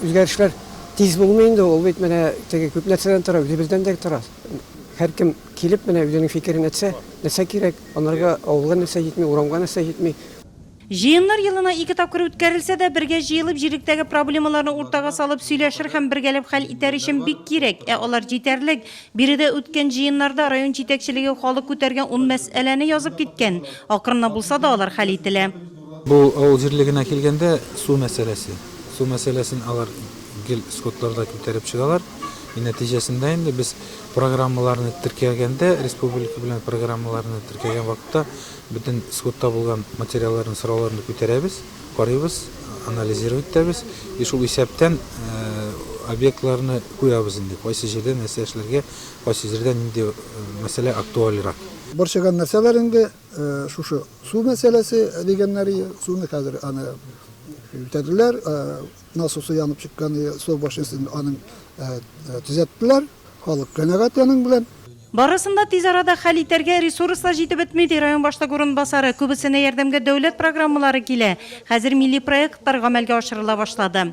Үзгәрешләр тиз булмый инде, ул бит менә теге күп нәрсәдән тора, үзебездән дә тора. Һәркем килеп менә үзенең фикерен әйтсә, нәрсә кирәк, анарга авылга нәрсә җитми, урамга нәрсә җитми. Җыеннар елына ике тапкыр үткәрелсә дә, бергә җыелып, җиректәге проблемаларны уртага салып, сөйләшер һәм бергәләп хәл итәр өчен бик кирәк. Ә алар җитәрлек. Биредә үткән җыеннарда район җитәкчелеге халык күтәргән ун мәсьәләне язып киткән. Акрынлап булса да алар хәл ителә. Бу авыл җирлегенә килгәндә, су мәсьәләсе. Су мәсьәләсен алар гел скотларда күтәреп чыгалар. И нәтиҗәсендә инде без программаларны теркәгәндә, республика белән программаларны теркәгән вакытта бөтен скотта булган материалларны, сорауларны күтәрәбез, карыйбыз, анализировать итәбез. И шул исәптән объектларны куябыз инде, кайсы җирдә нәрсә эшләргә, кайсы җирдә нинди мәсьәлә актуальрак. Борчыган нәрсәләр инде. Шушы су мәсьәләсе дигәннәр, суны хәзер аны үтәделәр, насосы янып чыккан, су башнясын аны төзәттеләр, халык канәгать аның белән. Барысын да тиз арада хәл итәргә ресурс та җитеп бетми, ди район башлык урынбасары. Күбесенә ярдәмгә дәүләт программалары килә. Хәзер милли проектлар гамәлгә ашырыла башлады.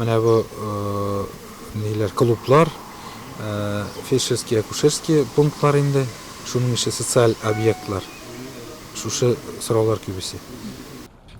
Менә бу ниләр, клублар, фельдшерский, акушерский пунктлар инде. Шуның ише социаль объектлар. Шушы сораулар күп исе.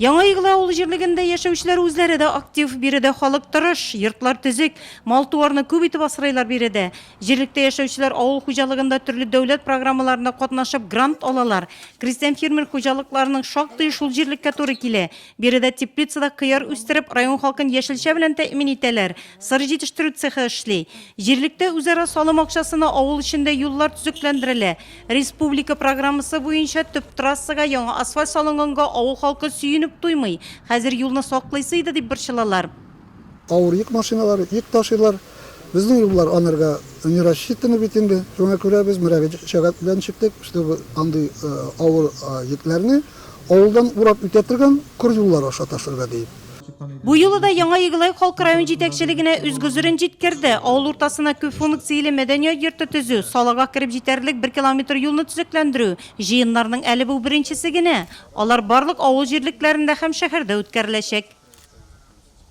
Яңа Игълы авыл җирлегендә яшәүчеләр үзләре дә актив. Биредә халык тырыш, йортлар төзек, мал-туарны күп итеп асрыйлар биредә. Җирлектә яшәүчеләр авыл хуҗалыгында төрле дәүләт программаларына катнашып, грант алалар. Крестьян-фермер хуҗалыкларының шактые шул җирлеккә туры килә. Биредә теплицада кыяр үстереп, район халкын яшелчә белән тәэмин итәләр. Сыр җитештерү цехы эшли. Җирлектә үзара салым акчасына авыл эчендә юллар төзекләндерелә. Республика программасы буенча төп трассага яңа асфальт салынганга авыл халкы сөенеп туймый. Хәзер юлны саклыйсы иде дип борчылалар. Авыр йөк машиналары йөк ташыйлар. Безнең юллар анарга не рассчитаны бит инде. Шуңа күрә без мөрәҗәгать белән чыктык, чтобы андый авыр йөкләрне авылдан урап үтә торган көр юллар аша ташырга диеп. Бу юлы да Яңа Егылай халкы район җитәкчелегенә үз гозерен җиткерде. Авыл уртасына күпфункцияле мәдәният йорты төзү, салага кереп җитәрлек бер километр юлны төзекләндерү, җыеннарның әле бу беренчесе генә. Алар барлык авыл җирлекләрендә һәм шәһәрдә үткәреләчәк.